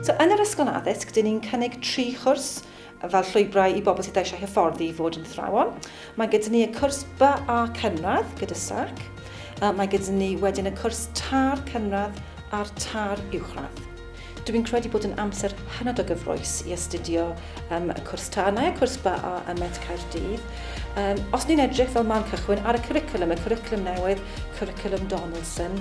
So, yn yr ysgol addysg, dyn ni'n cynnig tri chwrs fel llwybrau i bobl sydd eisiau hyfforddi i fod yn thrawon. Mae gyda ni y cwrs By a Cynradd gyda SAC. Mae gyda ni wedyn y cwrs Tar Cynradd a'r Tar Uwchradd. Dw i'n credu bod yn amser hynod o gyffrous i astudio um, y cwrs tân a cwrs BA ym Met Caerdydd. Um, os ni'n edrych fel man cychwyn ar y curriculum, y curriculum newydd, curriculum Donaldson,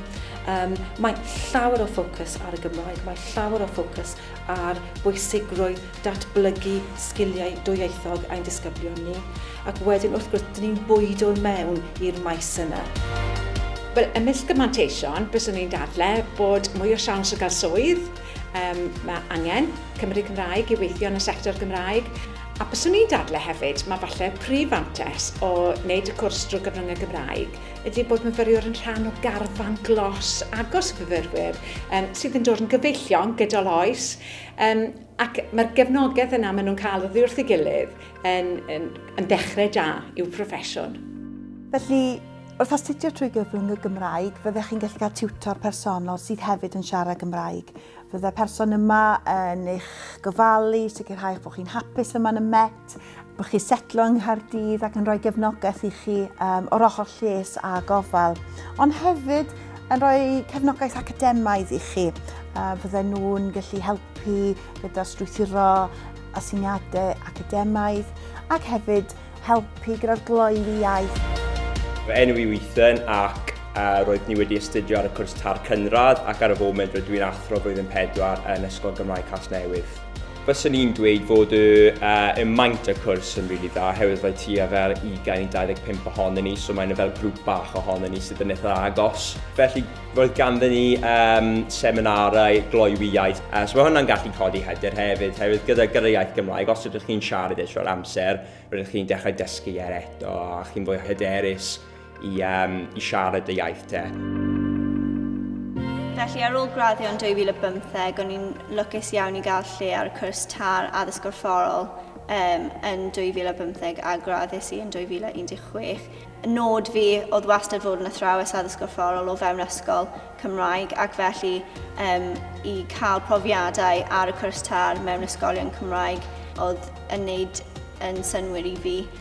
um, mae llawer o ffocws ar y Gymraeg, mae llawer o ffocws ar bwysigrwydd datblygu sgiliau dwyieithog ein disgyblion ni, ac wedyn wrth gwrs, dyn ni'n bwydo i mewn i'r maes yna. Wel, ymysg y manteision, byswn i'n dadle bod mwy o siawns o gael swydd, um, mae angen Cymru Cymraeg i weithio yn y sector Gymraeg, a byswn i'n dadle hefyd, mae falle prif fantes o wneud y cwrs drwy gyfryngau Gymraeg ydy bod myfyriwr yn rhan o garfan glos agos o fyfyrwyr um, sydd yn dod yn gyfeillion gydol oes, um, Ac mae'r gefnogaeth yna maen nhw'n cael oddi wrth ei gilydd yn, yn, yn dechrau da i'w proffesiwn. Felly, wrth astudio trwy gyfrwng y Gymraeg, fyddech chi'n gallu cael tiwtor personol sydd hefyd yn siarad Gymraeg. Fydde'r person yma yn eich gofalu, sicrhau bod chi'n hapus yma yn y Met, Bod chi setlo yng Nghaerdydd ac yn rhoi gefnogaeth i chi um, o'r ochr lles a gofal, ond hefyd yn rhoi cefnogaeth academaidd i chi. Uh, fydden nhw'n gallu helpu gyda strwythuro asyniadau academaidd ac hefyd helpu gyda'r gloi i iaith. Fy enw i Ethan ac uh, roedd ni wedi astudio ar y cwrs tar cynradd ac ar y foment rydw i'n athro flwyddyn pedwar yn Ysgol Gymraeg Casnewydd. Fyswn i'n dweud fod y, uh, y maint y cwrs yn rili really dda, oherwydd rhaid ti a fel 20 i 25 ohonyn ni, so mae'n fel grŵp bach ohonyn ni sydd yn eitha agos. Felly, roedd ganddyn ni um, seminarau gloywi iaith, uh, so mae hwnna'n gallu codi hyder hefyd, oherwydd gyda, gyda iaith Gymraeg, os ydych chi'n siarad eto ar amser, rydych chi'n dechrau dysgu er eto, a chi'n fwy hyderus. i, um, i siarad dy iaith te. Felly ar ôl graddio yn 2015, o'n i'n lwcus iawn i gael lle ar y cwrs tar addysg gorfforol um, yn 2015 a graddus i yn 2016. Nod fi oedd wastad fod yn athrawes addysg gorfforol o fewn ysgol Cymraeg ac felly um, i cael profiadau ar y cwrs tar mewn ysgolion Cymraeg oedd yn wneud yn synwyr i fi.